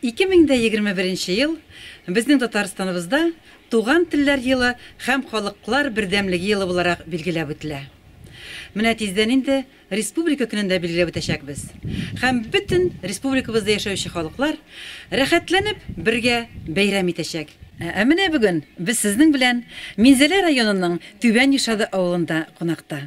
Ике мең дә егерме беренче ел безнең Татарстаныбызда Туган телләр елы һәм халыклар бердәмлеге елы буларак билгеләп үтелә. Менә тиздән инде Республика көнен дә билгеләп үтәчәкбез һәм бөтен республикабызда яшәүче халыклар рәхәтләнеп бергә бәйрәм итәчәк. Ә менә бүген без сезнең белән Минзәлә районының Түбән Юшады авылында кунакта.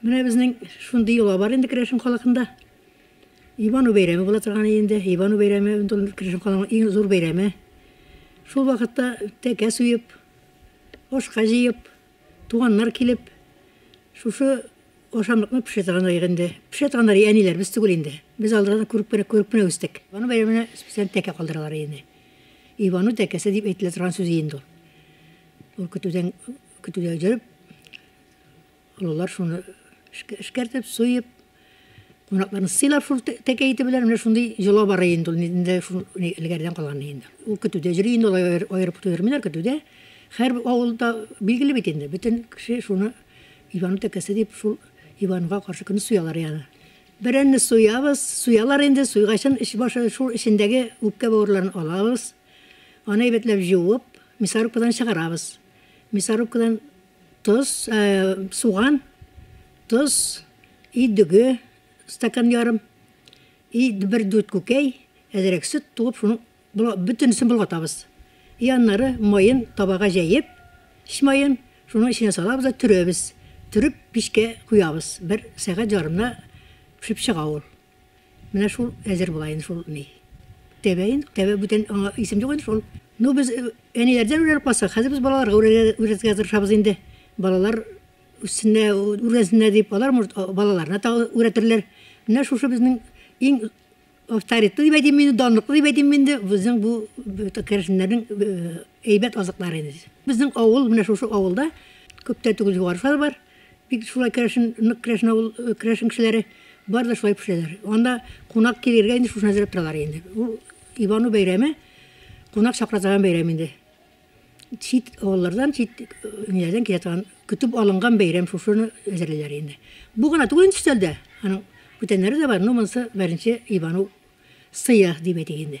Менә безнең шундый йола бар инде Керәшен халыкында. Ивану бәйрәме була торган инде. Ивану бәйрәме ул Керәшен халыкның иң зур бәйрәме. Шул вакытта тәкә суеп, ашка җыеп, Туганнар килеп, шушы ашамлыкны пешерә торганнар инде. Пешерә торганнар әниләребез түгел инде. Без аларны күреп кенә, күреп кенә үстек. Ивану бәйрәменә специаль тәкә калдыралар инде. Ивану тәкәсе дип әйтелә торган сүз инде ул. Ул көтүдән көтүдә җөреп, олылар шуны эшкәртеп, суеп, Кунакларны сыйлар шул тәкә ите белән, менә шундый җола бара инде ул, инде шул элгәрдән калган инде. Ул көтүдә җөри инде, алар аерып туйырмыйлар көтүдә. Хәр авылда билгеле бит инде, бөтен кеше шуны Иван тәкәсе дип шул Иванга каршы көне суялар яны. Бәрәнне суябыз, суялар инде, суйгачын эч башы шул эчендәге үпкә бавырларын алабыз. Аны әйбәтләп җуып, мясорубкадан чыгарабыз. Мясорубкадан Тоз, суган, тоз, өй дөге, стакан ярым, и бер дүрт күкәй, әзрәк сөт туып, шуның бөтенесен болгатабыз. И аннары маен табага җәеп, эч маен, шуның эченә салабыз да төрәбез. Төреп, пичкә куябыз. Бер сәгать ярымда пешеп чыга ул. Менә шул әзер була инде шул ни. Тәбәен, тәбә бүтән аңа исем юк инде шул. Ну без әниләрдән үрелеп калсак, хәзер без балаларга үрелергә тырышабыз инде. Балалар үссеннәр, үргәнсеннәр дип, алар может балаларына тагы үрәтерләр. Менә шушы безнең иң авторитетлы дип әйтим инде, данлыклы дип әйтим инде безнең бу керәшеннәрнең әйбәт азыклары инде. Безнең авыл, менә шушы авылда күптә түгел югары шулар бар. Бик шулай керәшен, нык керәшен авыл, керәшен кешеләре бар да шулай пешерәләр. Анда кунак килергә инде шушны әзерләп торалар инде. Ул Ивану бәйрәме, кунак чакыра торган бәйрәм инде. Чит авыллардан, чит ниләрдән килә торган, көтеп алынган бәйрәм шушыны әзерлиләр инде. Бу гына түгел инде өстәлдә. Аның бүтәннәре дә бар, но монысы беренче Ивану сыя дип әйтик инде.